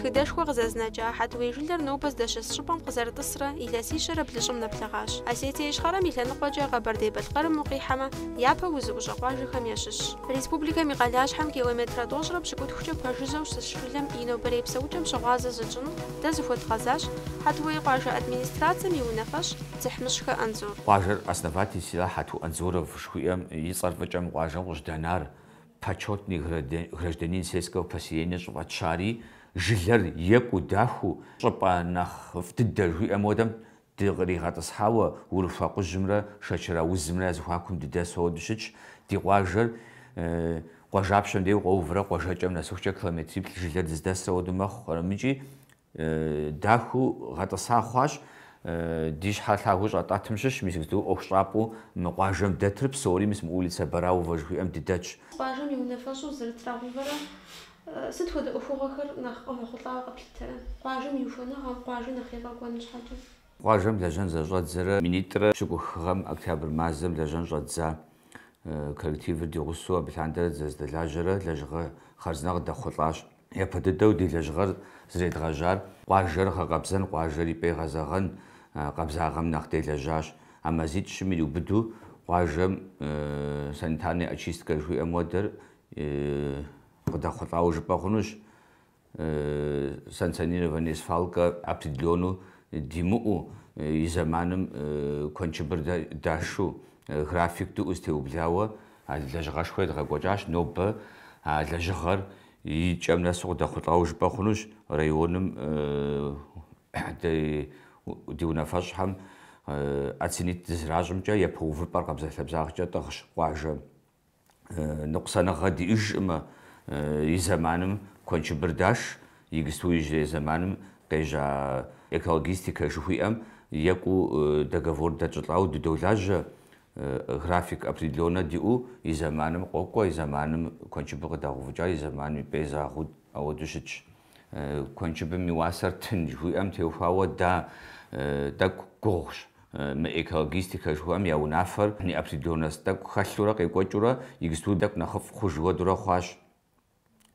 Тхыдэшхуэ къызэзынэкӏа Хьэтуей жылэр нобэ здэщыс щӏыпӏэм къызэрытӏысрэ илъэсищэрэ блыщӏым нэблэгъащ. Осетие Ищхъэрэм и лъэныкъуэкӏэ Къэбэрдей-Балъкъэрым укъихьэмэ, япэ узыӏущӏэ къуажэхэм ящыщщ. Республикэм и къалащхьэм километрэ тӏощӏрэ пщыкӏутхукӏэ пэжыжьэу щыс жылэм и нобэрей псэукӏэм щыгъуазэ зытщӏыну дэ зыхуэдгъэзащ Хьэтуей къуажэ администрацэм и унафэщӏ Дзыхьмыщхэ Анзор. Къуажэр основатель села Хьэту Анзоров жыхуиӏэм и цӏэр фӏыкӏэ мы къуажэм къыщыдэнар, Почетный гражданин сельского поселения щӏыфӏэтщари, жылэр екӏуу, дахэу, щӏыпӏэ нэхъыфӏ дыдэ жыхуиӏэм хуэдэм Дыкъригъэтӏысхьауэ Урыхуэ Къужьымрэ Шэчэр аузымрэ я зэхуакум дыдэсу ауэду щытщ. Ди къуажэр къуажапщэм дей укъоуврэ къуажэкӏэм нэсыхукӏэ километриплӏ жылэр дыздэсыр ауэду мэхъу абымкӏи, дахэу гъэтӏыса хъуащ. Ди щхьэр лъагэу щӏэтӏэтым щыщ мис мыдэ ӏуэхущӏапӏэу мы къуажэм дэтыр псори мис мы улицэ Бараувэ жыхуиӏэм дыдэтщ. Къуажэм и унафэщӏу зэрытрагъэувэрэ Сыт хуэдэ ӏуэхугъуэхэр нэхъ къывэхъулӏауэ къэплъытэрэ? Къуажэм и ухуэныгъэм къуажэ нэхъ егъэкӏуэн щхьэкӏэ. Къуажэм лэжьэн зэщӏэдзэрэ минитӏрэ пщыкӏух гъэм, октябрь мазэм, лэжьэн щӏэддза коллективыр ди гъусэу абы лъандэрэ дызэздэлажьэрэ лэжьыгъэ хъарзынэ къыдэхъулӏащ. Япэ дыдэу ди лэжьыгъэр зредгъэжьар къуажэр гъэкъэбзэн, къуажэр и пӏэ игъэзэгъэн къабзагъэм нэхъ делэжьащ. А мазитӏ-щым ириубыду къуажэм санитарная очистка жыхуиӏэм уэдэр Къыдэхъулӏауэ жыпӏэ хъунущ, санкционированнэ свалкэ определеннэу димыӏэу, и зэманым куэншыбыр дашу, график диӏэу зытеублауэ а лэжьыгъэшхуэр едгъэкӏуэкӏащ. Нобэ а лэжьыгъэр и кӏэм нэсу къыдэхъулӏауэ жыпӏэ хъунущ районым ди унафэщӏхэм оценить дызращӏымкӏэ, япэ увыпӏэр къабзэлъэбзагъкӏэ тӏыгъщ къуажэм. ныкъусаныгъэ диӏэжкъым, и зэманым куэншыбыр даш, игысту иужьрей зэманым къежьа экологистикэ жыхуиӏэм екӏуу договор дэтщӏылӏауэ дыдолажьэ, график определеннэ диӏэу, и зэманым къокӏуэ, и зэманым куэншыбыр къыдагъэувыкӏа, и зэманым и пӏэ изагъэу, ауэдэу щытщ. Куэншыбым и уасэр тын жыхуиӏэм теухуауэ дэ тӏэкӏу гугъущ. Мы экологистикэ жыхуиӏэм я унафэр неопределенность тӏэкӏу хэлъурэ къекӏуэкӏыурэ игысту тӏэкӏу нэхъыфӏ хъуж уэдурэ хъуащ.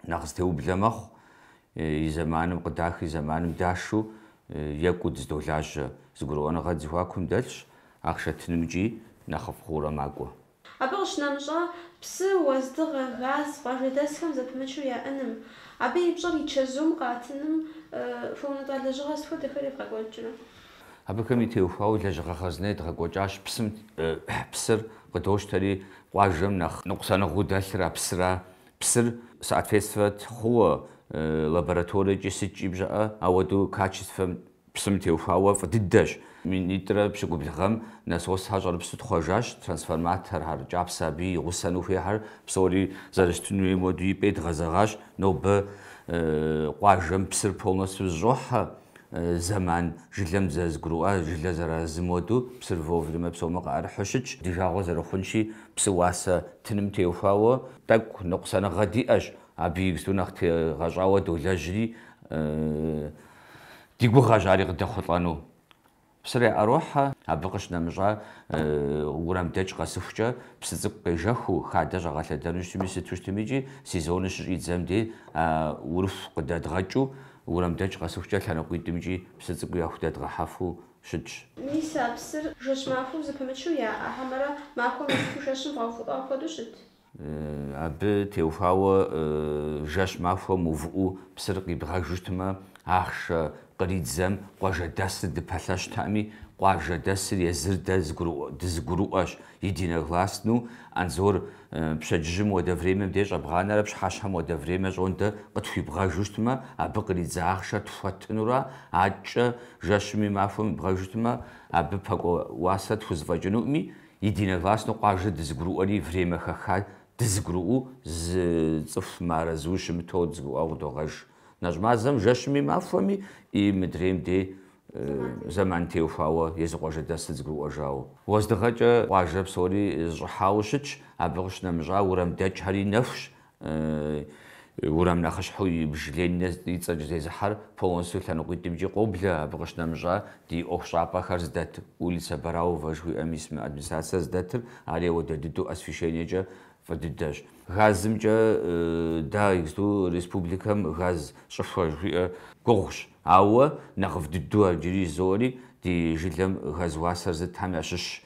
Нэхъ зытеублэ мэхъу, и зэманым къыдах, и зэманым дашу екӏуу дыздолажьэ. Зэгурыӏуэныгъэ ди зэхуакум дэлъщ, ахъшэ тынымкӏи нэхъыфӏ хъуурэ макӏуэ. Абы къыщынэмыщӏа, псы, уэздыгъэ, газ, къуажэдэсхэм зэпымычу яӏэным, абы и пщӏэр и чэзум къатыным хуэунэтӏа лэжьыгъэ сыт хуэдэхэр евгъэкӏуэкӏрэ? Абыхэм и теухуауэ лэжьыгъэ хъарзынэ едгъэкӏуэкӏащ, псым, псыр къыдощтэри, къуажэм нэхъ ныкъусаныгъэу дэлъыр а псыра, псыр соответствовать хъууэ лабораториекӏи сыткӏи бжаӏэ, ауэдэу качествэм Псым теухуауэ фӏы дыдэщ. Минитӏрэ пщыкӏубл гъэм насосхэр щӏэрыпсу тхъуэжащ, трансформаторхэр кӏапсэ абы и гъусэну хуейхэр псори зэрыщытын хуейм хуэдэу и пӏэ идгъэзэгъащ, нобэ къуажэм псыр полностью зыщӏохьэ, зэман жылэм зэзгурыӏуа жылэ зэразым хуэдэу псыр вовремя псоми къыӏэрыхьу щытщ, ди жагъуэ зэрыхъунщи псы уасэ тыным теухуауэ тӏэкӏу ныкъусаныгъэ диӏэщ, абы игсту нэхъ тегъэщӏауэ долэжьри, Ди гугъэщ ари къыдэхъулӏэну. Псыр яӏэрохьэ, абы къыщынэмыщӏа уэрамдэкӏ къэсыхукӏэ, псы цӏыкӏу къежэхыу, хадэ щӏагъэлъэдэну щытми, сыту щытми икӏи, сезоныр щыщӏидзэм дей, а Урыху къыдэдгъэкӏыу, уэрамдэкӏ къэсыхукӏэ лъэныкъуитӏым икӏи псы цӏыкӏуи яхудэдгъэхьэфу щытщ. Мис а псыр жэщ махуэу зэпымычу яӏэ, хьэмэрэ махуэм иту жэщым бгъэувыӏуа хуэдэу щыт? Абы теухуауэ жэщ махуэ мыувыӏэу псыр къибгъэжу щытмэ, ахъшэ къридзэм къуажэдэсыр дыпэлъэщтами, къуажэдэсыр езыр дэ дызыгурыӏуэщ, единогласну, Анзор, пщэдджыжьым уэдэ времэм деж щӏэбгъанэрэ пщыхьэщхьэм уэдэ времэ щӏондэ къытхуибгъэжу щытмэ, абы къридзэ ахъшэр тхуэтынура, аткӏэ жэщми махуэми ибгъэжу щытмэ, абы пэкӏуэ уасэ тхузэфӏэкӏынуӏыми, Единогласно къуажэр дызыгурыӏуэри, время хэха дызыгурыӏуэу зы цӏыху мыарэзыуи щымыту дызыгурыӏуэу къыдогъэж. Нэщӏ мазэм жэщми махуэми и мыдрейм дей зэман теухуауэ езы къуажэдэс дызыгурыӏуэжауэ. Уэздыгъэкӏэ къуажэ псори зыщӏыхьауэ щытщ, абы къыщынэмыщӏа уэрамдэкӏхэри нэхущ, Уэрам нэхъыщхьэу ибж Ленинэ и цӏэкӏэ зезыхьэр полностью лъэныкъуитӏымкӏи къоблэ, абы къыщынэмыщӏа ди ӏуэху щӏапӏэхэр зыдэт улицэ Бараувэ жыхуиӏэм ис мы администрацэ зыдэтыр, ари ауэдэ дыдэу освещениекӏэ фӏы дыдэщ. Газымкӏэ дэ игсту республикэм газ щӏыхуэ жыхуиӏэр гугъущ, ауэ нэхъыфӏ дыдэу ар иджыри жызоӏэри ди жылэм газ уасэр зытхэм ящыщщ,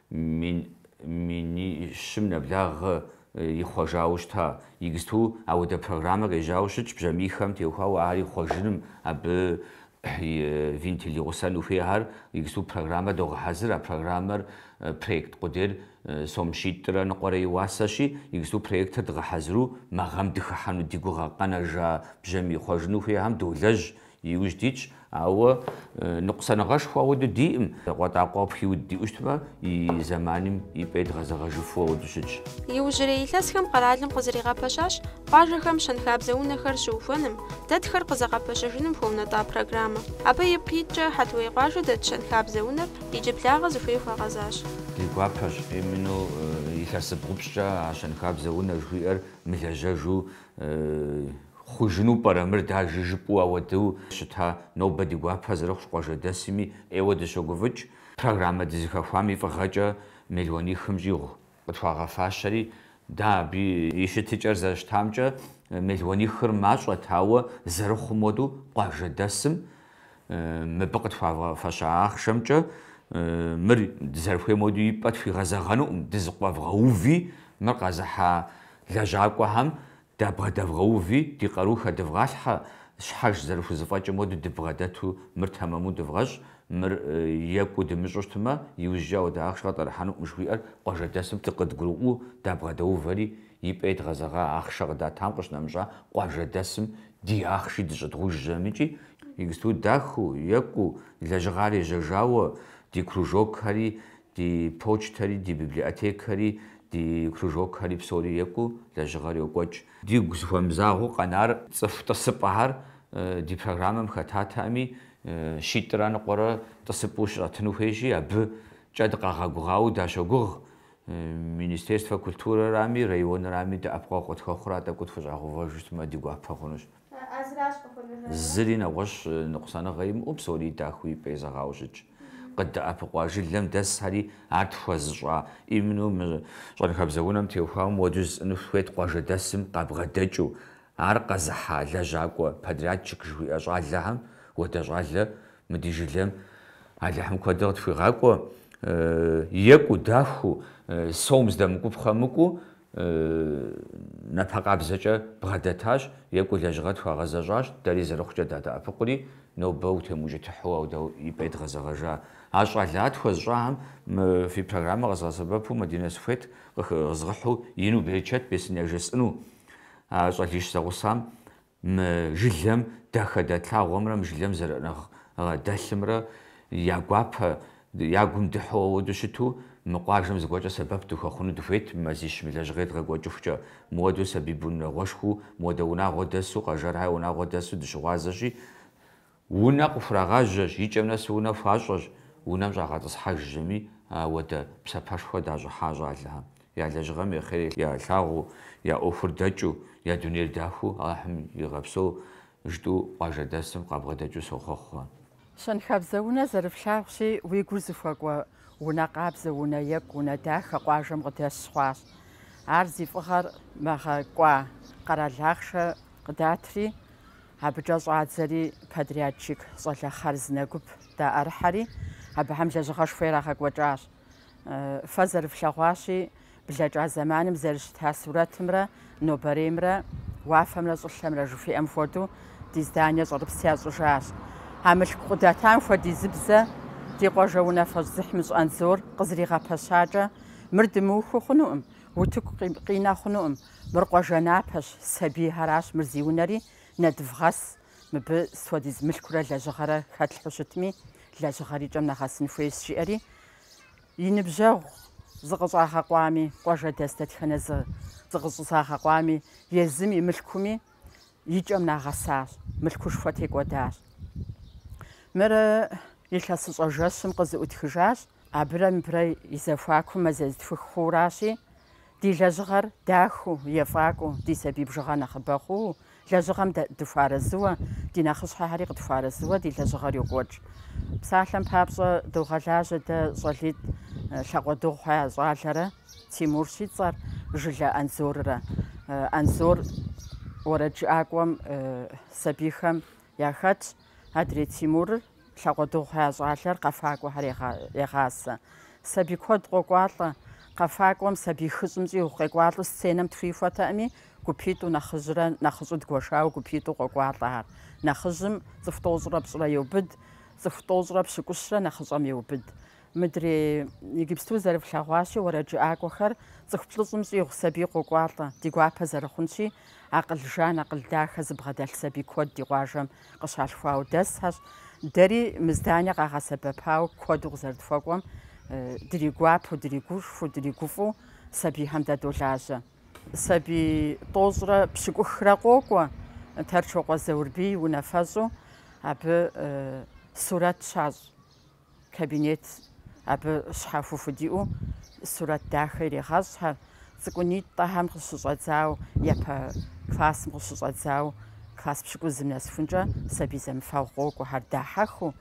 Минищым нэблагъэ ихъуэжауэ щыта. Игсту ауэдэ программэ къежьауэ щытщ, бжьамийхэм теухуауэ ар ихъуэжыным, абы и вентил и гъусэну хуейхэр. Игсту программэ догъэхьэзыр, а программэр проект къудейр сом щитӏрэ ныкъуэрэ и уасэщи, игсту проектыр дгъэхьэзыру мы гъэм дыхыхьэну ди гугъэ къэнэжа бжьамий хъуэжыну хуейхэм долэжь, Иужь дитщ, ауэ ныкъусаныгъэшхуэ ауэду диӏым. Къуатӏакъуэ къыпхиуд диӏу щытмэ, и зэманым и пӏэ идгъэзэгъэжыфу ауэду щытщ. Иужьрей илъэсхэм къэралым къызэригъэпэщащ къуажэхэм щэнхабзэ унэхэр щыухуэным, дэтхэр къызэгъэпэщэжыным хуэунэтӏа программэ. Абы ипкъ иткӏэ Хьэтуей къуажэ дэт щэнхабзэ унэр иджыблагъэ зыхуей хуагъэзащ. Ди гуапэщ, именно илъэсибгъу-пщӏыкӏэ а щэнхабзэ унэ жыхуиӏэр мылэжьэжу Хъужыну пӏэрэ мыр, дэ а жыжыпӏэу ауэдэу щыта нобэ ди гуапэ зэрыхъущ къуажэдэсми, ӏейуэ дыщогуфӏыкӏ. Программэ дызыхэхуам и фӏыгъэкӏэ мелуанихым щӏигъу къытхуагъэфащэри, дэ абы и щытыкӏэр зэрыщытамкӏэ мелуанихыр мащӏэт, ауэ зэрыхъум хуэдэу къуажэдэсым мыбы къытхуагъэфэща ахъшэмкӏэ мыр дызэрыхуейм хуэдэу и пӏэ тхуигъэзэгъэнукъым, дызыкъуэвгъэуви мыр къэзыхьа Лэжьакӏуэхэм дабгъэдэвгъэуви, ди къару хэдывгъалъхьэ, щхьэж зэрыхузэфӏэкӏым хуэдэу дыбгъэдэту мыр тэмэму дывгъэщӏ, мыр екӏуу дымыщӏу щытмэ, иужькӏэ ауэдэ ахъшэ къытӏэрыхьэнукъым жыхуиӏэр къуажэдэсым дыкъыдгурыӏуэу дабгъэдэувэри, и пӏэ идгъэзэгъа ахъшэ къыдатам къыщынэмыщӏа къуажэдэсым ди ахъши дыщӏыдгъужьэмыкӏи, иджыпсту дахэу, екӏуу, лэжьыгъэр ежьэжауэ, ди кружокхэри Ди почтэри, ди библиотекэри, ди кружокхэри псори екӏуу, лэжьыгъэр йокӏуэкӏ. Дигу зыхуэмызагъэу къэнар цӏыху тӏысыпӏэхэр ди программэм хэтатэкъыми, щитӏрэ ныкъуэрэ тӏысыпӏэу щыщӏэтыну хуейщи, абыкӏэ дыкъагъэгугъауэ дащогугъ. Министерствэ культурэрами, районрами дэӏэпыкъуэгъу къытхуэхъурэ а тӏэкӏур тхущӏагъэувэжу щытмэ, ди гуапэ хъунущ. Зыри нэгъуэщӏ ныкъусаныгъэ имыӏэу псори дахэу и пӏэ езэгъауэ щытщ. Къыддэӏэпыкъуа жылэм дэсхэри, ар тхуэзыщӏа именно мы щэнхабзэ унэм теухуауэ мыуэду жысӏэну сыхуейт къуажэдэсым къабгъэдэкӏыу, ар къэзыхьа лэжьакӏуэ, подрядчик жыхуиӏэ щӏалэхэм хуэдэ щӏалэ мы ди жылэм Алыхьым куэдрэ къытхуигъакӏуэ, екӏуу, дахэу, сом здэмыкӏуапхъэм мыкӏуу, Напэ къабзэкӏэ бгъэдэтащ, екӏуу лэжьыгъэр тхуагъэзэщӏащ, дэри зэрыхъукӏэ дадэӏэпыкъури, нобэ утемыукӏытыхьу ауэдэ и пӏэ идгъэзэгъэжа. А щӏалэ тхуэзыщӏахэм мы фи программэ къэзгъэсэбэпу Мадинэ сыхуейт къызгъыхьу ину берычэт бесын яжесӏэну. А щӏалищ зэгъусам Мы жылэм дахэ дэтлъагъуэмрэ мы жылэм зэрыӏыгъ дэлъымрэ я гуапэ я гум дыхьу ауэду щыту, мы къуажэм зыгуэркӏэ сэбэп дыхуэхъуну дыхуейт мазищ мы лэжьыгъэр едгъэкӏуэкӏыхукӏэ. Мыуэду сабий бын унагъуэшхуу, мыуэдэ унагъуэ дэсу, Къэжэрхэ унагъуэ дэсу дыщыгъуазэщи, Унэ къыхурагъэжьэщ, и кӏэм нэс унэ хуащӏэщ, унэм щӏагъэтӏысхьэжми ауэдэ псапэшхуэ дащӏыхьа щӏалэхэм. Я лэжьыгъэм и хъер ялъагъуу, я ӏуэхур дэкӏыу, я дунейр дахыу Алыхьым игъэпсэу жытӏэу къуажэдэсым къабгъэдэкӏыу сохъуэхъу. Щэнхабзэ унэ зэрыфлъагъущи, уи гур зыхуэкӏуэ унэ къабзэ, унэ екӏу, унэ дахэ къуажэм къыдэс хъуащ. Ар зи фӏыгъэр мы гъэ кӏуа къэрал ахъшэ къыдатри, Абыкӏэ щӏадзэри подрядчик щӏалэ хъарзынэ гуп даӏэрыхьэри, абыхэм лэжьыгъэшхуэ ирагъэкӏуэкӏащ. Фэ зэрыфлъэгъуащи, блэкӏа зэманым зэрыщыта сурэтымрэ нобэреймрэ, уафэмрэ щӏылъэмрэ жыхуиӏэм хуэдэу, ди здание щӏэрыпс ящӏыжащ. А мылъку къыдатам хуэдизыбзэ ди къуажэ унафэщӏ Зыхьмыщӏ Анзор къызригъэпэщакӏэ, мыр дымыухыу хъунукъым, утыку къинэ хъунукъым, Мыр къуажэ напэщ, сабийхэращ, мыр зи унэри, нэдывгъэс, мыбы сыт хуэдиз мылъкурэ лэжьыгъэрэ хэтлъхьу щытми, лэжьыгъэр и кӏэм нэгъэсын хуейщ, жиӏэри, и ныбжьэгъу зыкъыщӏагъэкъуами, къуажэдэс дэтхэнэ зы зыкъыщӏэзыгъэкъуами, езым и мылъкуми и кӏэм нагъэсащ, мылъкушхуэ текӏуэдащ. Мыр илъэсыщӏэ жэщым къызыӏутхыжащ. Абырэ мыбырэ и зэхуакум мазэ зытхух хъууращи, ди лэжьыгъэр дахэу, ефӏакӏуэу, ди сабий бжыгъэ нэхъыбэ хъууэ, лэжьыгъэм дыхуэарэзыуэ, ди нэхъыщхьэхэри къытхуарэзыуэ ди лэжьыгъэр йокӏуэкӏ. Псалъэм папщӏэ, догъэлажьэ дэ щӏалитӏ Лъакъуэдыгъухьэ я щӏалэрэ Тимурщ и цӏэр Жылэ Анзоррэ. Анзор уэрэджыӏакӏуэм сабийхэм яхэтщ. Адрей Тимурыр Лъакъуэдыгъухьэ я щӏалэр къэфакӏуэхэр егъасэ. Сабий куэд къокӏуалӏэ. Къэфакӏуэм сабий хыщӏым щӏигъу къекӏуалӏэу сценэм тхуихуэтэкъыми, гупитӏу нэхъыжьрэ нэхъыщӏу дгуэшауэ гупитӏу къокӏуалӏэхэр. Нэхъыжьым цӏыху тӏощӏрэ пщӏырэ еубыд, цӏыху тӏощӏрэ пщыкӏущрэ нэхъыщӏэм еубыд. Мыдрей иджыпсту зэрыфлъэгъуащи, уэрэджыӏакӏуэхэр цӏыху плӏыщӏым щӏигъу сабий къокӏуалӏэ, ди гуапэ зэрыхъунщи, акъыл жан, акъыл дахэ зыбгъэдэлъ сабий куэд ди къуажэм къыщалъхуауэ дэсхьэщ. Дэри мы здание къагъэсэбэпауэ куэду къызэрытхуэкӏуэм, дригуапэу, дригушхуэу, дригуфӏу сабийхэм дадолажьэ. Сабий тӏощӏрэ пщыкӏухрэ къокӏуэ Тэрчокъуэ Заурбий унафэщӏу, абы сурэт щащӏ. Кабинет абы щхьэхуэу диӏэу сурэт дахэ ирегъэщӏхэр, цӏыкӏунитӏэхэм къыщыщӏэдзауэ, япэ классым къыщыщӏэдзауэ, класс пщыкӏузым нэсхункӏэ сабий зэмыфэгъу къокӏуэхэр, дахьэхыу,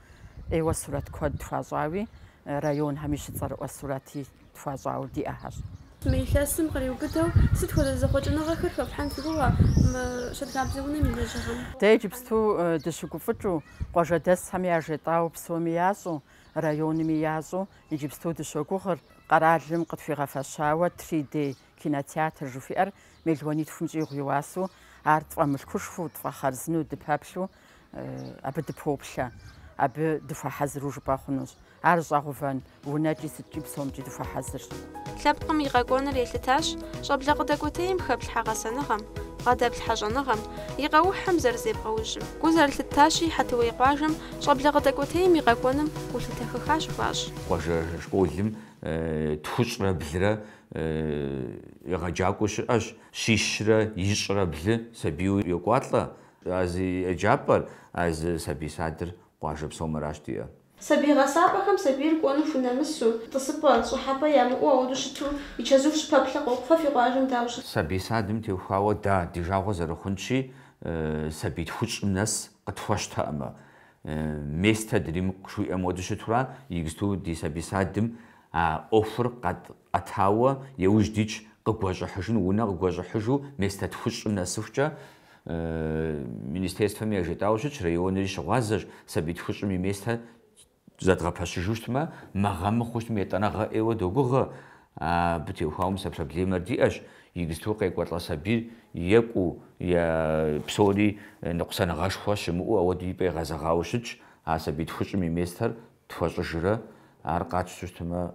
ӏейуэ сурэт куэд тхуащӏауи, районхэми щыцӏэрыӏуэ сурэти. тхуащӏауэ диӏэхьэщ. Мы илъэсым къриубыдэу, сыт хуэдэ зэхъуэкӏыныгъэхэр хэфлъхьэн фи гугъэ мы Щэнхабзэ унэм и лэжьыгъэм? Дэ иджыпсту дыщыгуфӏыкӏыу, къуажэдэсхэми яжетӏауэ псоми ящӏу, районми ящӏу иджыпсту дыщогугъыр, къэралым къытхуигъэфэщауэ Три Д кинотеатр жыхуиӏэр мелуанитхум щӏигъу и уасэу, ар тфӏэмылъкушхуэу, тфӏэхъарзынэу дыпэплъу, абы дыпоплъэ, абы дыхуэхьэзыру жыпӏэ хъунущ. Ар щӏагъэувэн унэкӏи сыткӏи псомкӏи дыхуэхьэзырщ. Лъэпкъым и къэкӏуэныр елъытащ щӏэблэ къыдэкӏуэтейм хэплъхьэ гъэсэныгъэм, бгъэдэплъхьэ щӏэныгъэм, и къэухьым зэрызебгъэужьым. Гу зэрылъыттащи, Хьэтыуей къуажэм щӏэблэ къыдэкӏуэтейм и къэкӏуэным гулъытэ хэха щыхуащӏ. Къуажэ школым тхущӏрэ блырэ егъэджакӏуэ щыӏэщ, щищрэ ищӏрэ блы сабийуэ йокӏуалӏэ А зы еджапӏэр, а зы сабий садыр къуажэ псом аращ диӏэр. Сабий гъэсапӏэхэм сабийр кӏуэну хунэмысу, тӏысыпӏэ, щӏыхьэпӏэ ямыӏэу ауэду щыту и чэзум щыпэплъэ къохъу. Фэ фи къуажэм дауэ щыт? Сабий садым теухуауэ да, ди жагъуэ зэрыхъунщи, сабий тхущӏым нэс къытхуэщтэӏымэ, местэ дримыкъу жиӏэм уэду щытурэ, игзту ди сабий садым а ӏуэхур къэт Къэтауэ и ужь дитщ къыгуэщӏыхьыжын унэ къыгуэщӏыхьыжу Местэ тхущӏым нэсыхукӏэ министерствэм яжетӏауэ щытщ, районри щыгъуазэщ, сабий тхущӏым и местэ зэдгъэпэщыжу щытмэ, мы гъэ мыхъуу щытмэ, етӏанэгъэ ӏейуэ догугъэ, абы теухуауэ мис а проблемэр диӏэщ, игзту къекӏуэлӏэ сабийр екӏуу е псори ныкъусаныгъэшхуэ щымыӏэу ауэду и пӏэ игъэзэгъауэ щытщ, а сабий тхущӏым и местэр тхуэщӏыжрэ, ар къатщту щытмэ,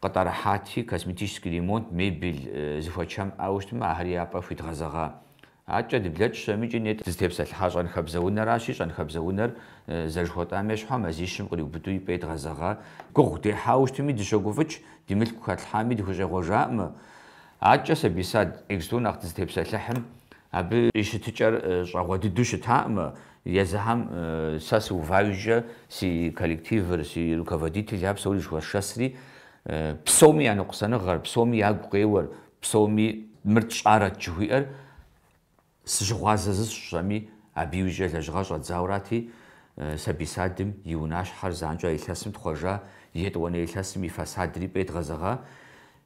Къытӏэрыхьати, косметический ремонт, мебель зыхуэчэм иӏауэ щытмэ, ахэри я пӏэ хуидгъэзэгъа. Адэкӏэ дыблэкӏ щытмикӏи, нетӏэ дызытепсэлъыхьа щэнхабзэ унэращи, щэнхабзэ унэр зэрыжыхуэтӏам ещхьу, а мазищым къриубыду и пӏэ едгъэзэгъа. Гугъу дехьауэ щытми дыщогуфӏыкӏ, ди мылъку хэтлъхьами дыхущӏегъуэжаӏымэ. Адэкӏэ сабий сад, игзту нэхъ дызытепсэлъыхьым, Абы и щытыкӏэр щӏагъуэ дыдэу щытаӏымэ, езыхэм сэ сыува иужькӏэ си коллективыр, си руководителхэр псори зэхуэсшэсри, псоми я ныкъусаныгъэр, псоми ягу къеуэр, псоми мыр тщӏарэт жыхуиӏэр сыщыгъуазэ зысщӏэми, абы иужькӏэ лэжьыгъэр щӏэддзаурати, сабий садым и унащхьэр занщӏэ илъэсым тхъуэжа, етӏуанэ илъэсым и фасадри и пӏэ едгъэзэгъа,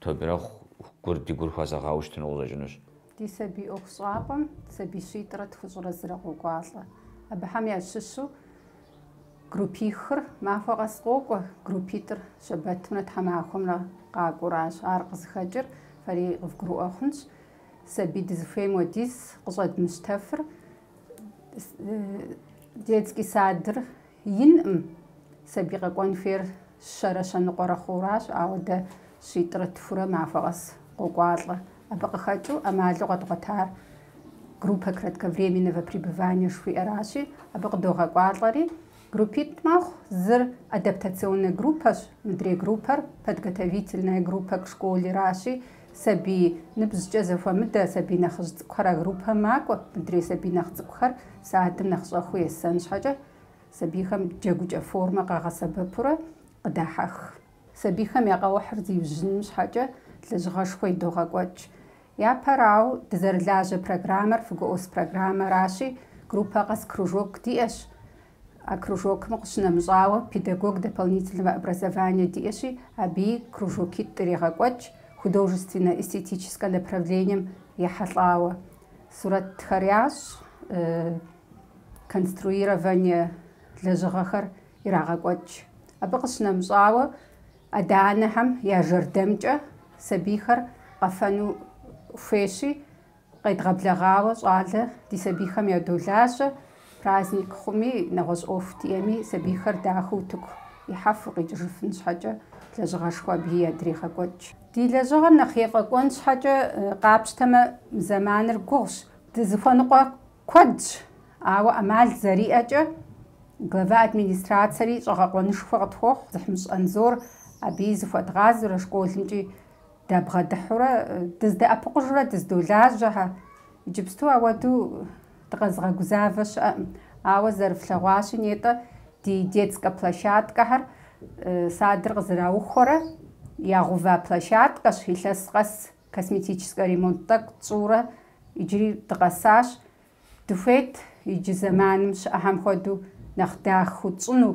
Тобирэ гур ди гур хуэзэгъауэ щытыну къыщӏэкӏынущ. Ди сабий ӏуэхущӏапӏэм сабий щитӏрэ тхущӏрэ зырэ къокӏуалӏэ. Абыхэм ящыщу группихыр махуэ къэс къокӏуэ, группитӏыр щэбэтымрэ тхьэмахуэмрэ къакӏуэращ. Ар къызыхэкӏыр фэри къывгурыӏуэ хъунщ. Сабий дызыхуейм уэдиз къыщӏэдмыщтэфыр детский садыр Инӏым. Сабий къэкӏуэн хуейр щэрэ щэныкъуэрэ хъууращ, ауэ дэ щитӏрэ тхурэ махуэ къэс къокӏуалӏэ. Абы къыхэкӏыу ӏэмалу къэдгъуэтар группэ кратковременного пребывания жыхуиӏэращи, абы къыдогъэкӏуалӏэри группитӏ мэхъу, зыр адаптационнэ группэщ, мыдрей группэр подготовительная группэ к школеращи, Сабий ныбжькӏэ зэхуэмыдэ сабий нэхъыжь цӏыкӏухэр а группэм макӏуэ. Мыдрей сабий нэхъ цӏыкӏухэр садым нэхъ щӏэхыу есэн щхьэкӏэ, сабийхэм джэгукӏэ формэ къагъэсэбэпурэ къыдахьэх. Сабийхэм я къэухьыр зиужьыным щхьэкӏэ лэжьыгъэшхуэ идогъэкӏуэкӏ. Япэрауэ, дызэрылажьэ программэр ФГОС программэращи, группэ къэс кружок диӏэщ. А кружокым къыщынэмыщӏауэ, педагог дополнительного образования диӏэщи, абыи кружокитӏ ирегъэкӏуэкӏ, художественно-эстетическэ направлением ехьэлӏауэ. Сурэтхэр ящӏ, конструирование лэжьыгъэхэр ирагъэкӏуэкӏ. Абы къыщынэмыщӏауэ, адэ-анэхэм я жэрдэмкӏэ сабийхэр къэфэну хуейщи, Къедгъэблэгъауэ щӏалэ ди сабийхэм ядолажьэ, праздник хъуми, нэгъуэщӏ ӏуэху диӏэми, сабийхэр дахэу утыку ихьэфу къикӏыжыфын щхьэкӏэ лэжьыгъэшхуэ абыи ядрегъэкӏуэкӏ. Ди лэжьыгъэр нэхъ ефӏэкӏуэн щхьэкӏэ къапщтэмэ, зэманыр гугъущ. Дызыхуэныкъуэ куэдщ, ауэ ӏэмал зэриӏэкӏэ глава администрацэри щӏэгъэкъуэнышхуэ къытхуохъу Дзыхьмыщӏ Анзор абыи зыхуэдгъазурэ школымкӏи Дабгъэдыхьурэ дыздэӏэпыкъужурэ дыздолажьэ, хьэ, иджыпсту ауэду дыкъэзыгъэгузавэ щыӏэкъым. Ауэ зэрыфлъэгъуащи, нетӏэ ди детскэ площадкэхэр садыр къызэраухуэрэ ягъэува площадкэщ, илъэс къэс косметическэ ремонт тӏэкӏу тщӏыурэ иджыри дыкъэсащ. Дыхуейт иджы зэманым щыӏэхэм хуэдэу нэхъ дахэу тщӏыну,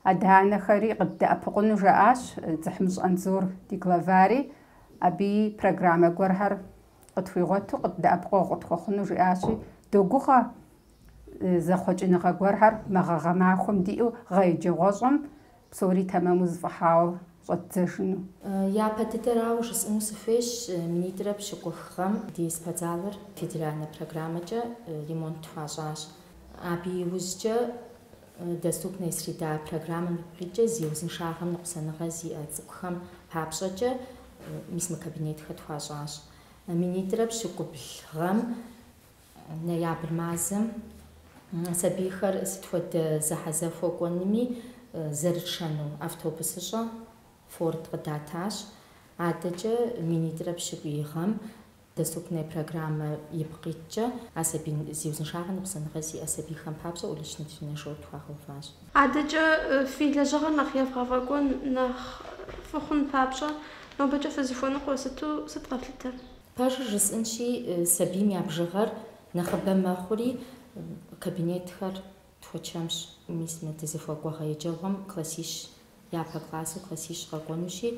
адэ-анэхэри къыддэӏэпыкъуну, жаӏащ Дзыхьмыщӏ Анзор ди главари, абыи программэ гуэрхэр къытхуигъуэту къыддэӏэпыкъуэгъу къытхуэхъуну, жиӏащи, догугъэ зэхъуэкӏыныгъэ гуэрхэр мы гъэ гъэмахуэм диӏэу гъэ еджэгъуэщӏэм Псори тэмэму зэфӏэхауэ щӏэтдзэжыну. Япэ дыдэрауэ жысӏыну сыхуейщ, минитӏрэ пщыкӏух гъэм ди спортзалыр федеральнэ программэкӏэ ремонт тхуащӏащ. Абы иужькӏэ Доступная среда программэм ипкъ иткӏэ зи узыншагъэм ныкъусаныгъэ зиӏэ цӏыкӏухэм папщӏэкӏэ мис мы кабинетхэр тхуащӏащ. Минитӏрэ пщыкӏубл гъэм Ноябрь мазэм сабийхэр сыт хуэдэ зэхьэзэхуэ кӏуэнми зэрытшэну автобусыщӏэ Форд къыдатащ. Адэкӏэ минитӏрэ пщыкӏуй гъэм Доступная программэ ипкъ иткӏэ а сабий зи узыншагъэ ныкъусаныгъэ зиӏэ сабийхэм папщӏэ уличный тренажёр тхуагъэуващ. Адэкӏэ фи лэжьыгъэр нэхъ евгъэфӏэкӏуэн нэхъ фӏы хъун папщӏэ нобэкӏэ фызыхуэныкъуэ сыту сыт къэфлъытэр? Пэжыр жысӏэнщи, сабийм я бжыгъэр нэхъыбэ мэхъури, кабинетхэр тхуэчэмщ. Мис мы дызыхуэкӏуэ гъэ еджэгъуэм классищ япэ классу классищ къэкӏуэнущи,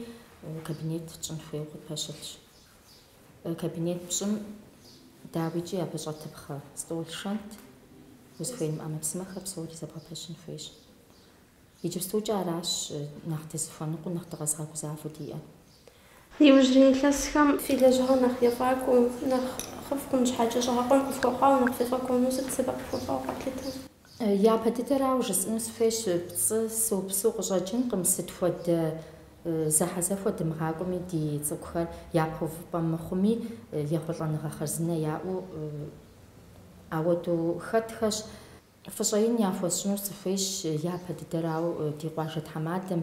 кабинет тщӏын хуейуэ къытпэщылъщ. Кабинет пщӏым, дауикӏи, абы щӏэтыпхъэ стӏол шэнт, узыхуей мы ӏэмэпсымэхэр псори зэбгъэпэщын хуейщ. Иджыпстукӏэ аращ нэхъ дызыхуэныкъуэу, нэхъ дыкъэзыгъэгузавэу диӏэр. Иужьрей илъэсхэм фи лэжьыгъэр нэхъ ефӏакӏуэу, нэхъыфӏ хъун щхьэкӏэ щӏыгъэкъуэн къыфхуэхъуауэ нэхъ ефӏэкӏуэну сыт сэбэп хуэхъуауэ къэфлъытэр? Япэ дыдэрауэ жысӏэну сыхуейщ, пцӏы сыупсу къыщӏэкӏынкъым, сыт хуэдэ зэхьэзэхуэ дымыгъакӏуэми ди цӏыкӏухэр япэ увыпӏэ мыхъуми, ехъулӏэныгъэ хъарзынэ яӏэу ауэдэу хэтхэщ. Фӏыщӏэ ин яхуэсщӏыну сыхуейщ япэ дыдэрауэ ди къуажэ тхьэмадэм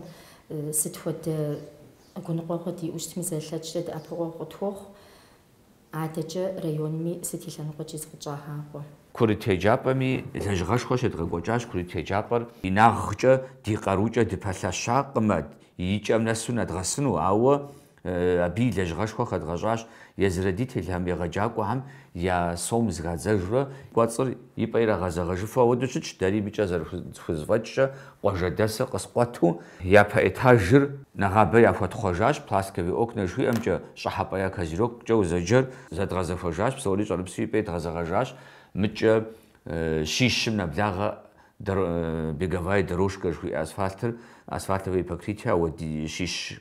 сыт хуэдэ гуныкъуэгъуэ диӏэу щытми зэрылъэкӏкӏэ дэӏэпыкъуэгъу къытхуохъу, адэкӏэ районми сыт и лъэныкъуэкӏи зыкъытщӏагъакъуэ. Курыт еджапӏэми лэжьыгъэшхуэ щедгъэкӏуэкӏащ, курыт еджапӏэр инагъкӏэ, ди къарукӏэ дыпэлъэщакъым, и кӏэм нэсу нэдгъэсыну, ауэ Абы и лэжьыгъэшхуэ хэдгъэщӏащ езы родителхэм, егъэджакӏуэхэм я сом зэхадзэжурэ. Кӏуэцӏыр и пӏэ ирагъэзэгъэжыфу ауэдэу щытщ, дэри мыкӏэ зэрыхузэфӏэкӏкӏэ къуажэдэсыр къыскъуэту. Япэ этажыр нэгъабэ яхуэтхъуэжащ, пластиковые окна жыхуиӏэмкӏэ щӏыхьэпӏэ я козырёккӏэ узэджэр зэдгъэзэхуэжащ, псори щӏэрыпсу и пӏэ идгъэзэгъэжащ, мыкӏэ щищым нэблагъэ беговая дорожка жыхуиӏэ асфальтыр, асфальтовое покрытие, ауэ щищ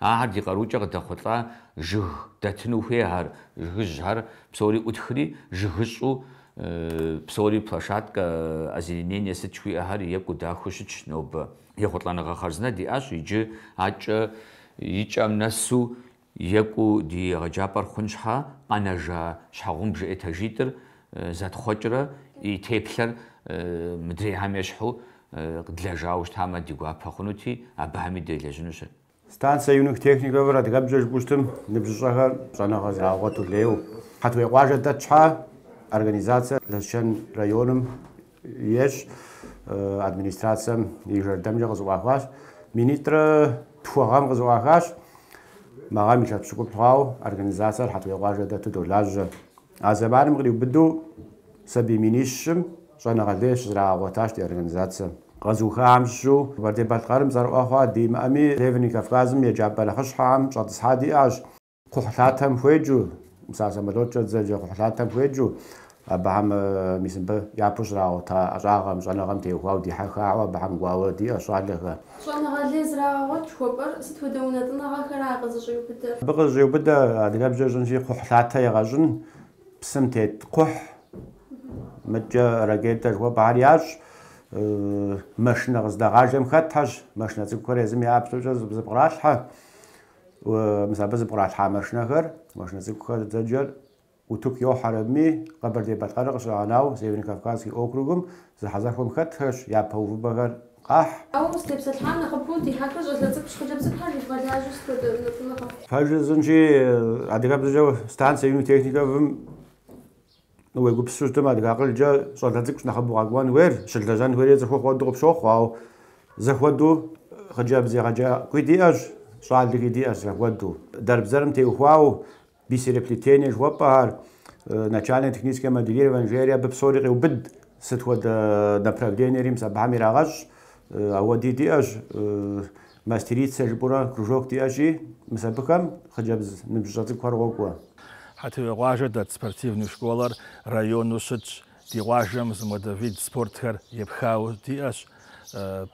Ахэр ди къарукӏэ къыдэхъулӏа жыг дэтыну хуейхэр, жыгыжьхэр псори ӏутхри, жыгыщӏэу псори площадкэ, озеленение сыт жыхуиӏэхэр екӏуу дахэу щытщ нобэ. Ехъулӏэныгъэ хъарзынэ диӏащ иджы акӏэ и кӏэм нэсу екӏуу ди егъэджапӏэр хъун щхьэ, къэнэжа щхьэгъубжэ этажитӏыр Зэтхъуэкӏрэ и теплъэр мыдрейхэм ещхьу къэдлэжауэ щытамэ, ди гуапэ хъунути, абыхэми делэжьынущ. Станция юных техниковыр адыгэбзэкӏэ жыпӏэу щытым, ныбжьыщӏэхэр щӏэныгъэ зрагъэгъуэту лейуэ. Хьэтуей къуажэ дэт щхьэ, организацэр Лэсчэн районым Ещӏ администрацэм и жэрдэмкӏэ къызэӏуахащ, минитӏрэ тху гъэм къызэӏуахащ. Мы гъэм илъэс пщыкӏутӏ хъуауэ организацэр Хьэтуей къуажэ дэту долажьэ. А зэманым къриубыдэу сабий минищым щӏэныгъэ лей щызэрагъэгъуэтащ ди организацэм. Къэзыухахэм щыщу Къэбэрдей-Балъкъэрым цӏэрыӏуэ хъуа ди имыӏэми, Северный Кавказым еджапӏэ нэхъыщхьэхэм щӏэтӏысхьа диӏащ. Кхъухьлъатэм хуеджэу, мис а самолёткӏэ дызэджэ кхъухьлъатэм хуеджэу, абыхэм мис мыбы япэу щрагъэгъуэта ӏэщӏагъэм, щӏэныгъэм теухуауэ дихьэхауэ абыхэм кӏуауэ диӏэщ щӏалэхэр. Щӏэныгъэ лей зрагъэгъуэт жыхуэпӏэр сыт хуэдэ унэтӏыныгъэхэра къызыщӏиубыдэр? Абы къызыщӏиубыдэ, адыгэбзэкӏэ жысӏэнщи, кхъухьлъатэ егъэщӏын, псым тет кхъухь, мыдкӏэ ракетэ жыхуэпӏэхэр ящӏ, машинэ къыздэгъажэм хэтхэщ, машинэ цӏыкӏухэр езым я ӏэплӏэкӏэ зэпкъралъхьэ, Мис абы зэпкъралъхьа машинэхэр, машинэ цӏыкӏухэр зэджэр утыку йохьэр абыми, Къэбэрдей-Балъкъэрыр къыщыгъэнауэ Северо-Кавказский округым зэхьэзэхуэм хэтхэщ япэ увыпӏэхэр къахь. Ауэ узытепсэлъыхьам нэхъыбэу дихьэхыр щӏалэ цӏыкӏущ, хъыджэбз епхауэ щывгъэлажьэу сыт хуэдэ унэтӏыныгъэ. Пэжыр жысӏэнщи, адыгэбзэкӏэ станцэ юных техниковым Уегупсысу щытмэ, адыгэ акъылкӏэ щӏалэ цӏыкӏу нэхъыбэу къэкӏуэн хуейр, щылэжьэн хуейри цӏыхухъу хуэдэу къыпщохъу, ауэ зэхуэдэу хъыджэбз егъэджакӏуи диӏэщ, щӏалэхи диӏэщ зэхуэдэу. Дэрбзэрым теухуауэ бисереплетение жыхуэпӏэхэр, начальное техническое моделирование жери абы псори къеубыд, сыт хуэдэ направлениерим абыхэм ирагъэщӏ, ауэ диӏэщ. Мастерица жыпӏэурэ кружок диӏэщи, мис абыхэм хъыджэбз ныбжьыщӏэ цӏыкӏухэр къокӏуэ. Хьэтуей къуажэ дэт спортивный школэр району щытщ. Ди къуажэм зы модэ вид спортхэр епхауэ диӏэщ,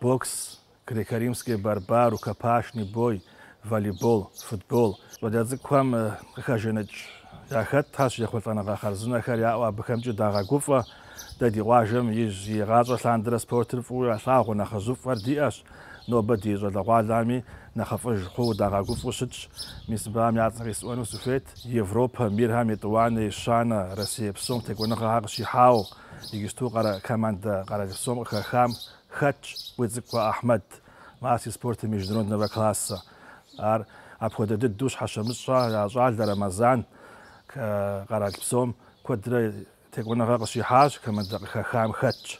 бокс, греко-римский борьба, рукопашный бой, волейбол, футбол. Щӏалэ цӏыкӏухэм къыхэженыкӏ яхэтхэщ, ехъулӏэныгъэ хъарзынэхэр яӏэу абыхэмкӏи дагъэгуфӏэ. Дэ ди къуажэм ижь игъащӏэ лъандэрэ спортыр фӏыуэ ялъагъуу нэхъыжьыфӏхэр диӏэщ. Нобэ ди щӏалэгъуалэми нэхъыфӏыж хъууэ дагъэгуфӏэу щытщ. Мис абыхэм я цӏэр исӏуэну сыхуейт, Европэ мирхэм етӏуанэ, ещанэ, Россие псом текӏуэныгъэхэр къыщихьауэ, иджыпсту къэрэ командэ къэралпсом къыхэхам хэтщ Къуицӏыкӏуэ Ахьмэд, мастер спорта международного класса. Ар апхуэдэ дыдэу Щхьэщэмыщӏхэ я щӏалэ Рэмэзан къэралпсом куэдрэ Текӏуэныгъэ къыщихьащ, командэ къыхэхам хэтщ.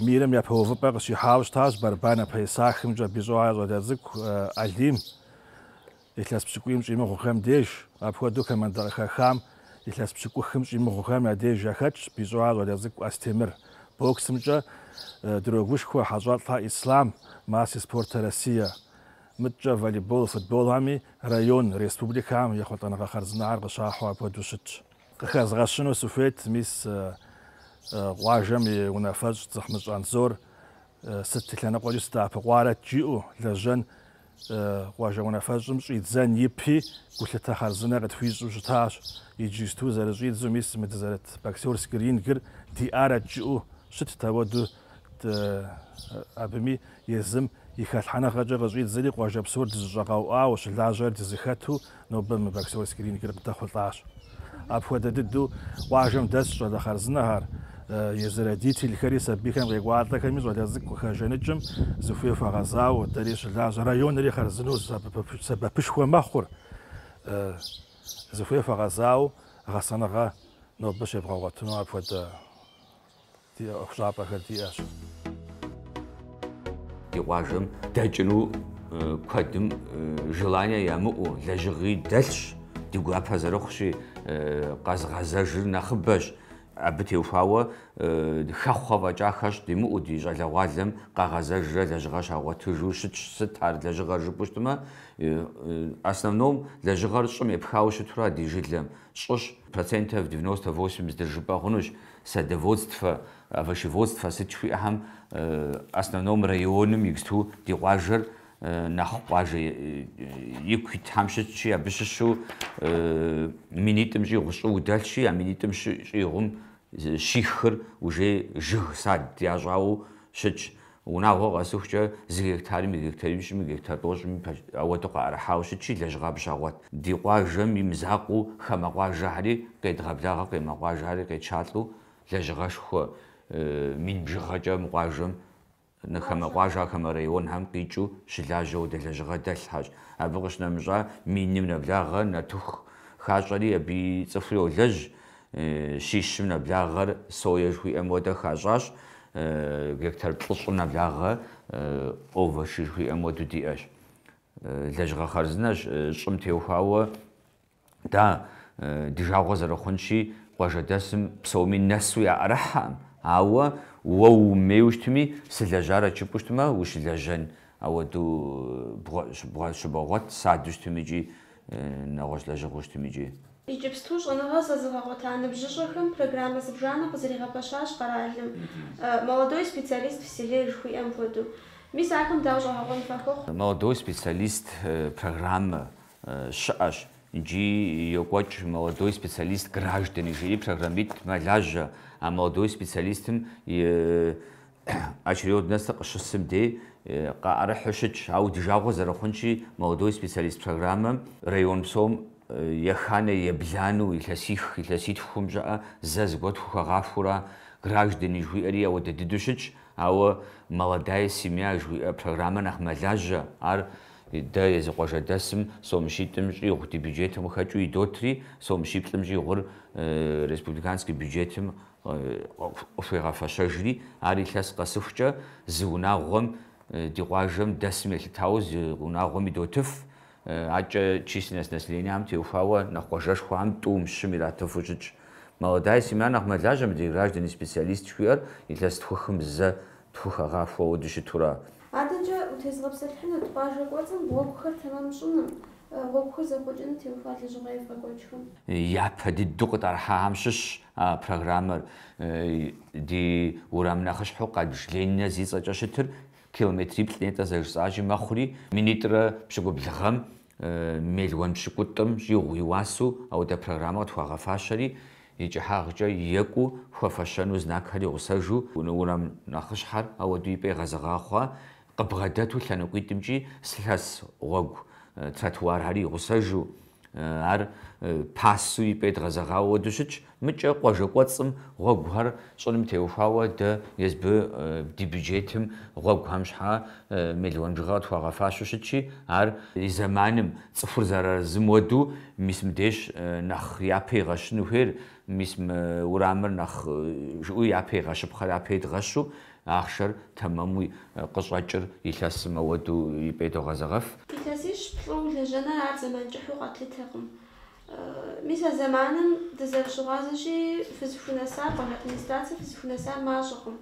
Мирым япэ увыпӏэ къыщихьауэ щытащ борьба на поясахымкӏэ Бищӏохэ я щӏалэ цӏыкӏу Алим илъэс пщыкӏуийм щӏимыгъухэм деж. Апхуэдэу командэ къыхэхам илъэс пщыкӏухым щӏимыгъухэм я деж яхэтщ Бищӏохэ я щӏалэ цӏыкӏу Астемыр. Боксымкӏэ дрогушхуэ Хьэщӏэлӏэ Ислъам, мастер спорта Россия. Мыткӏэ волейбол, футболхьэми район, республикэхэм ехъулӏэныгъэ хъарзынэхэр къыщахьу апхуэдэу щытщ. Къыхэзгъэщыну сыхуейт мис къуажэм и унафэщӏ Дзыхьмыщӏ Анзор сыт и лъэныкъуэкӏи сыдэӏэпыкъуарэт жиӏэу, лэжьэн къуажэм унафэщӏым щӏидзэн ипи, гулъытэ хъарзынэ къытхуищӏу щытащ. Иджысту зэрыщӏидзу мис мы дызэрыт боксерский рингыр диӏарэт жиӏэу щытт, ауэдэу Абыми езым и хэлъхьэныгъэкӏэ къыщӏидзэри, къуажэ псор дызэщӏэкъуауэ щылажьэр дызэхэту нобэ мы боксерский рингыр къыдэхъулӏащ. Апхуэдэ дыдэу къуажэм дэсщ щӏалэ хъарзынэхэр, езы родительхэри сабийхэм къекӏуалӏэхэми щӏалэ цӏыкӏу къыхэжаныкӏым зыхуей хуэгъэзауэ, дэри щылажьэ районри хъарзынэу сэбэпышхуэ мэхъур. Зыхуей хуэгъэзауэ гъэсэныгъэ нобэ щебгъэгъуэтыну апхуэдэ. Ди ӏуэхущӏапӏэхэр диӏэщ. Ди къуажэм дэкӏыну куэдым желание ямыӏэу, лэжьыгъи дэлъщ, ди гуапэ зэрыхъущи, къэзгъэзэжыр нэхъыбэщ. Абы теухуауэ хэхъуэ фӏэкӏа хэщӏ димыӏэу ди щӏалэгъуалэм къагъэзэжрэ лэжьыгъэр щагъуэтыжу щытщ. Сыт ар лэжьыгъэр жыпӏэу щытмэ, основном лэжьыгъэр щӏым епхауэ щытура ди жылэм? Щӏыщ, процентов девяносто восемь здыржыпӏэ хъунущ. садоводствэ, овощеводствэ сыт жыхуиӏэхэм основном районым иджысту ди къуажэр нэхъ къуажэ ику итхьэм щытщи, абы щыщу минитӏым щӏигъу щӏыуэ дэлъщи, а минитӏым щӏигъум щихыр уже жыг, сад ящӏауэ щытщ. Унагъуэ къэсыхукӏэ зы гектарми, гектарищми, гектар тӏощӏми, ауэдэу къаӏэрыхьауэ щытщи, лэжьыгъэ абы щагъуэт. Ди къуажэм и мызакъуэу хамэ къуажэхьэри къедгъэблагъэ, къемэ къуажэхьэри къетшалӏэу лэжьыгъэшхуэ мин бжыгъэкӏэ мы къуажэм, хамэ къуажэ, хамэ районхэм къикӏыу щылажьэ уэдэ лэжьыгъэ дэлъхьэщ. Абы къыщынэмыщӏа, миным нэблагъэ, нартыху хащӏэри, абыи цӏыхури йолэжь, щищым нэблагъэр сое жыхуиӏэм уэдэ хащӏащ, гектар плӏыщӏым нэблагъэ овощи жыхуиӏэм уэду диӏэщ. Лэжьыгъэ хъарзынэщ щӏым теухуауэ да ди жагъуэ зэрыхъунщи, къуажэдэсым псоми нэсу яӏэрыхьэкъым, ауэ уэ уумейуэ щытми, сылэжьарэт жыпӏэу щытмэ, ущылэжьэн Ауэдэу щыбогъуэт, садэу щытми икӏи нэгъуэщӏ лэжьыгъэу щытми икӏи. Иджыпсту щӏэныгъэ зэзыгъэгъуэта ныбжьыщӏэхэм программэ зыбжанэ къызэригъэпэщащ къэралым, Молодой специалист в селе жыхуиӏэм хуэдэу. Мис ахэм дауэ щӏэгъэкъуэн фхуэхъу? Молодой специалист программэ щыӏэщ иджы йокӏуэкӏ Молодой специалист граждане жиӏэри программитӏ мэлажьэ а молодой специалистым и Очередностыр къыщысым дей къаӏэрыхьу щытщ, ауэ ди жагъуэ зэрыхъунщи, Молодой специалист программэм район псом еханэ еблану илъэсих, илъэситхум щӏыӏэ зэ зыгуэ тхухэгъахуэура, Граждане жыхуиӏэри ауэдэ дыдэу щытщ, ауэ Молодая семья жыхуиӏэ программэр нэхъ мэлажьэ, ар дэ езы къуажэдэсым сомщитӏым щӏигъу ди бюджетым къыхэкӏыу идотри, сомщиплӏым щӏигъур республиканский бюджетым къыхуегъэфэщэжри, ар илъэс къэсыхукӏэ зы унагъуэм, ди къуажэм дэсым елъытауэ зы унагъуэм идотыф, акӏэ численность населениям теухуауэ нэхъ къуажэшхуэхэм тӏум, щым иратыфу щытщ. Молодая семья нэхъ мэлажьэ мы ди граждане специалист жыхуиӏэр илъэс тху-хым зэ тхухэгъахуэу уэду щытура. Адэкӏэ утезыгъэпсэлъыхьынут къуажэ кӏуэцӏым гъуэгухэр тэмэм щӏыным, гъуэгухэр зэхъуэкӏыным теухуа лэжьыгъэ евгъэкӏуэкӏхэм. Япэ дыдэу къытӏэрыхьахэм щыщщ А программэр ди уэрам нэхъыщхьэу къабж Ленинэ зи цӏэкӏэ щытыр километриплӏ нетӏэ зэрыжысӏащи мэхъури, минитӏрэ пщыкӏубл гъэм мелуан пщыкӏутӏым щӏигъу и уасэу ауэдэ программэ къытхуагъэфащэри, и кӏыхьагъкӏэ екӏуу хуэфэщэну знакхэр игъусэжу, уэрам нэхъыщхьэр ауэдэу и пӏэ игъэзэгъа хъуа, къыбгъэдэту лъэныкъуитӏымкӏи лъэс гъуэгу тротуархэр игъусэжу, Ар пасу и пӏэ едгъэзэгъауэ уэду щытщ. Мыкӏэ къуажэ кӏуэцӏым гъуэгухэр щӏыным теухуауэ дэ езы ди бюджетым гъуэгухэм щхьэ мелуан бжыгъэ къытхуагъэфащэу щытщи, ар и зэманым, цӏыхур зэразым уэду, мис мыбдеж нэхъ япэ игъэщыну хуейр, мис мы урамыр нэхъ жиӏу япэ игъэщыпхъэр япэ едгъэщу, Ахъшэр тэмэмуи къыщӏэкӏыр илъэсым ауэдэу и пӏэ идогъэзэгъэф. Илъэсищ-плӏу улэжьэныр ар зэман кӏыхьу къэтлъытэкъым. Мис а зэманым дызэрыщыгъуазэщи, фызыхунэсар, къуажэ администрацэ фызыхунэсар мащӏэкъым.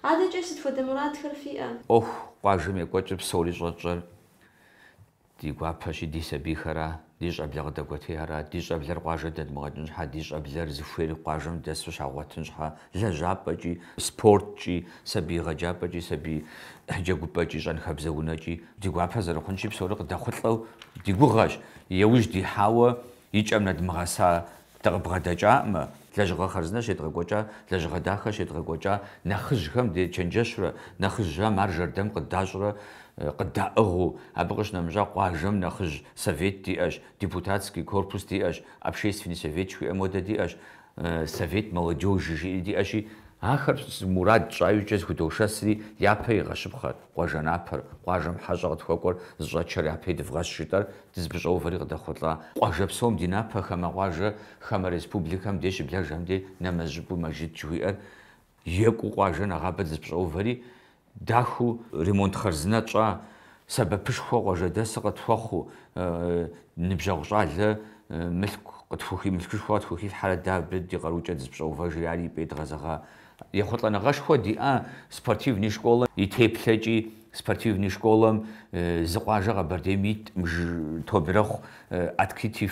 Адэкӏэ сыт хуэдэ мурадхэр фиӏэ? ӏуэху къуажэм екӏуэкӏыр псори щӏэтщӏэр Ди гуапэщи, ди сабийхэра, ди щӏэблэ къыдэкӏуэтейхэра, ди щӏэблэр къуажэ дэдмыгъэкӏын щхьэ, ди щӏэблэр зыхуейр къуажэм дэсу щагъуэтын щхьэ, лэжьапӏэкӏи, спорткӏи, сабий егъэджапӏэкӏи, сабий джэгупӏэкӏи, щӏэнхабзэ унэкӏи, ди гуапэ зэрыхъунщи, псори къыдэхъулӏэу ди гугъэщ. Иужь дихьауэ И кӏэм нэдмыгъэса дыкъыбгъэдэкӏаӏымэ, лэжьыгъэ хъарзынэ щедгъэкӏуэкӏа, лэжьыгъэ дахэ щедгъэкӏуэкӏа, нэхъыжьхэм дечэнджэщрэ, нэхъыжьхэм ар жэрдэм къыдащӏрэ къыддаӏыгъыу, абы къыщынэмыщӏа къуажэм нэхъыжь совет диӏэщ, депутатский корпус диӏэщ, общественный совет жыхуиӏэм хуэдэ диӏэщ, Совет молодежи жиӏэри диӏэщи, ахэр мурад тщӏа иужькӏэ зыхудошэсри, япэ игъэщыпхъэр, къуажэ напэр, къуажэм хьэщӏэ къытхуэкӏуэр зыщӏэтшэр япэ идывгъэщ жытӏэр дызыпыщӏэувэри къыдэхъулӏа. Къуажэ псом ди напэ, хамэ къуажэ, хамэ республикэм де щыблэжхэм де нэмэз щӏыпӏэу мэжыт жыхуиӏэр Екӏуу къуажэ нэгъабэ дызэпщӏэувэри дахэу. Ремонт хъарзынэ тщӏа сэбэпышхуэ къуажэдэсыр къытхуэхъуу, ныбжьэгъу щӏалэ мылъку къытхухи, мылъкушхуэ къытхухилъхьэрэ дэ абы ди къарукӏэ дызэпщӏэувэжри ари и пӏэ идгъэзэгъа ехъулӏэныгъэшхуэ диӏа спортивный школэ и теплъэкӏи, спортивный школэм зы къуажэ Къэбэрдейм итӏым ж тобэ ирехъу открытый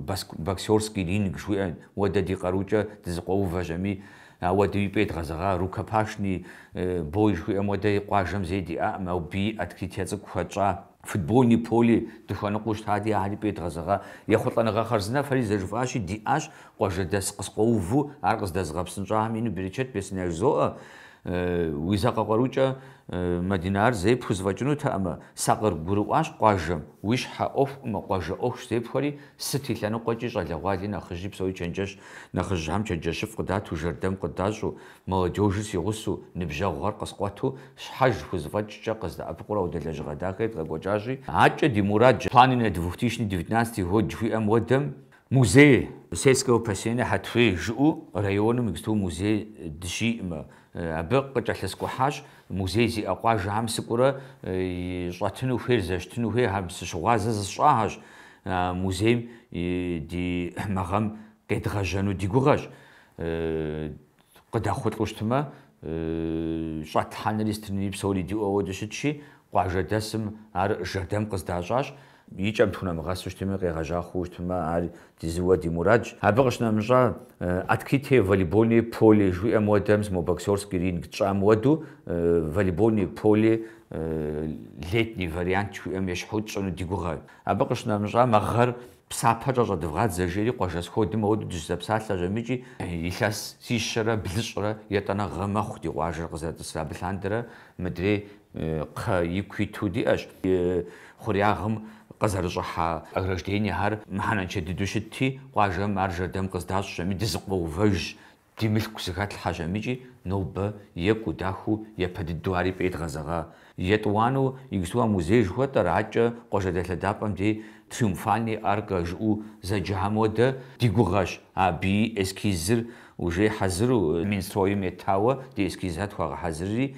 баск боксерский ринг жыхуиӏэ уэдэ ди къарукӏэ дызэкъуэувэжщ ами, Ауэдэу и пӏэ идгъэзэгъа рукопашный бой жыхуиӏэм хуэдэи къуажэм зэи диӏакъым, абыи и открытие цӏыкӏу хуэтщӏа. Футбольный поле дыхуэныкъуэу щытати, ахэр и пӏэ идгъэзэгъа ехъулӏэныгъэ хъарзынэ фэри зэжыфӏащи, диӏащ, къуажэдэс къыскъуэуву ар къыздэзыгъэпсынщӏахэм ину берычэт бесын яжызоӏэ, уи закъуэ къарукӏэ, Мадинэ, ар зэи пхузэфӏэкӏынутэкъымэ, сакъыргурыӏуащ къуажэм, уи щхьэ ӏуэхукъымэ, къуажэ ӏуэхущ зепхуэри, Сыт и лъэныкъуэкӏи, щӏалэгъуали нэхъыжьи псори чэнджэщ, нэхъыжьхэм чэнджэщыфӏ къыдату, жэрдэм къыдащӏу, молодежыр си гъусэу, ныбжьэгъугъэр къыскъуэту, щхьэж хузэфӏэкӏкӏэ къыздэӏэпыкъурэ ауэдэ лэжьыгъэ дахэр едгъэкӏуэкӏащи, акӏэ ди мурад Планы на двухтысячный девятнадцатый год жыхуиӏэм уэдэм, музей сельского поселения Хьэтуей жыӏэу районым иджыпсту музей дыщиӏэӏымэ, Абы къыкӏэлъыскӏухьащ музей зиӏэ къуажэхэм сыкӏуурэ щӏэтыну хуейр, зэщытыну хуейр, абы сыщыгъуазэ зысщӏахэщ. Музейм ди мы гъэм къедгъэжьэну ди гугъэщ. Къыдэхъулӏу щытмэ, щӏэтлъхьэнри сытри псори диӏэу ауэдэ щытщи, къуажэдэсым ар жэрдэм къыздащӏащ. И кӏэм тхунэмыгъэсу щытми, къегъэжьа хъуу щытмэ, ар ди зыуэ ди мурадщ. Абы къыщынэмыщӏа, открытое волейбольное поле жыхуиӏэм уэдэм, мо боксерский ринг тщӏам уэду, волейбольное поле летний вариант жыхуиӏэм ещхьу тщӏыну ди гугъэ. Абы къыщынэмыщӏа, мы гъэр псапэкӏэ щӏэдывгъадзэ, жери къуажэ сходым ауэду дыщызэпсалъэщ амыкӏи. Илъэсищэрэ блыщӏрэ етӏанэгъэ мэхъу ди къуажэр къызэрытӏысрэ. Абы лъандэрэ мыдрей Кхъэ ику иту диӏэщ и хъуреягъым къызэрыщӏыхьа ограждениехэр. Мыхьэнэншэ дыдэу щытти, къуажэм ар жэрдэм къыздащӏщ, ами дызэкъуэувэжщ, ди мылъку зыхэтлъхьэщ амыкӏи, нобэ екӏуу, дахэу, япэ дыдэу ари и пӏэ идгъэзэгъа. Етӏуанэу иджыпсту а музей жыхуэтӏэр, акӏэ къуажэ дэлъэдапӏэм дей триумфальный арка жыӏэу зэджэхэм уэдэ, ди гугъэщ. Абыи эскизыр уже хьэзыру, Минстройм етауэ ди эскизхэр тхуагъэхьэзырри,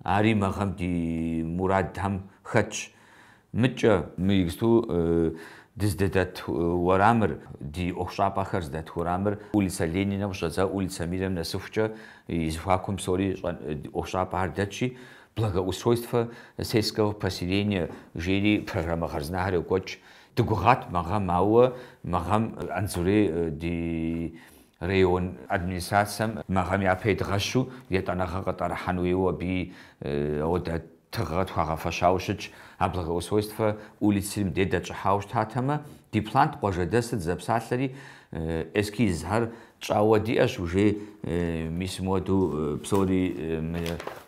Ари мы гъэм ди мурадхэм хэтщ. Мыкӏэ. Мы иджыпсту дыздэдэт уэрамыр, ди ӏуэхущӏапӏэхэр зыдэт уэрамыр улицэ Лениным къыщӏэдза улицэ Мирым нэсыхукӏэ и зэхуакум псори ӏуэхущӏапӏэхэр дэтщи, благоустройствэ сельского поселения жери программэ хъарзынэхэр йокӏуэкӏ. Дыгугъат мы гъэм, ауэ мы гъэм Анзурей ди Район администрацием мы гъэм япэ едгъэщу етӏанэгъэ къытӏэрыхьэн хуейуэ абы ауэдэ тыгъэ тхуагъэфэщауэ щытщ. А благоустройствэ улицым дей дэтщӏыхьауэ щытатэмэ, ди плант къуажэдэсыр дызэпсалъэри, эскизхэр тщӏауэ диӏэщ уже. Мис мыуэду псори мы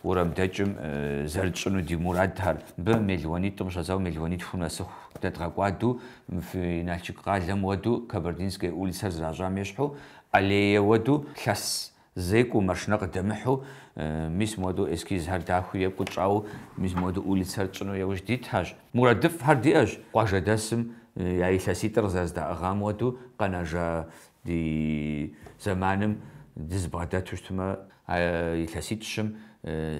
уэрамдэкӏым зэрытщӏыну ди мурадхэр. Мыбы мелуанитӏым щӏэдзауэ мелуанитху нэсыху дэдгъэкӏуаду Мы фи Налшык къалэм уэду Кабардинская улицэр зращӏам ещхьу, аллея уэду лъэс зекӏуэу, машинэ къыдэмыхьу, мис муэду эскизхэр дахэу екӏуу тщӏауэ, мис муэду улицэр тщӏыну яужь дитхэщ. Мурадыфӏхэр диӏэщ, къуажэдэсым я илъэситӏыр къызэрыздаӏыгъам уэду, къэнэжа ди зэманым дызыбгъэдэту щытмэ, а илъэситӏ-щым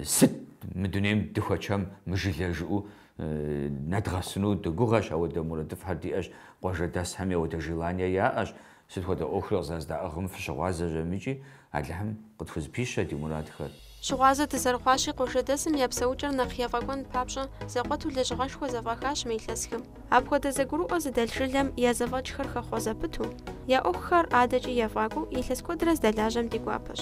сыт мы дунейм дыхуэчэм мы жылэр жыӏэу Нэдгъэсыну дыгугъэщ, ауэдэ мурадыфӏхэр диӏэщ, къуажэдэсхэми ауэдэ желание яӏэщ. Сыт хуэдэ ӏуэхури къызэрыздаӏыгъым фыщыгъуазэ жэм икӏи Алыхьым къытхузэпищэ ди мурадхэр. Щыгъуазэ дызэрыхъуащи, къуажэдэсым я псэукӏэр нэхъ ефӏэкӏуэн папщӏэ зэкъуэту лэжьыгъэшхуэ зэфӏахащ мы илъэсхэм. Апхуэдэ зэгурыӏуэ зыдэлъ жылэм я зэфӏэкӏхэр хэхъуэ зэпыту, я ӏуэхухэр адэкӏи ефӏакӏуэу илъэс куэдрэ здэлажьэм ди гуапэщ.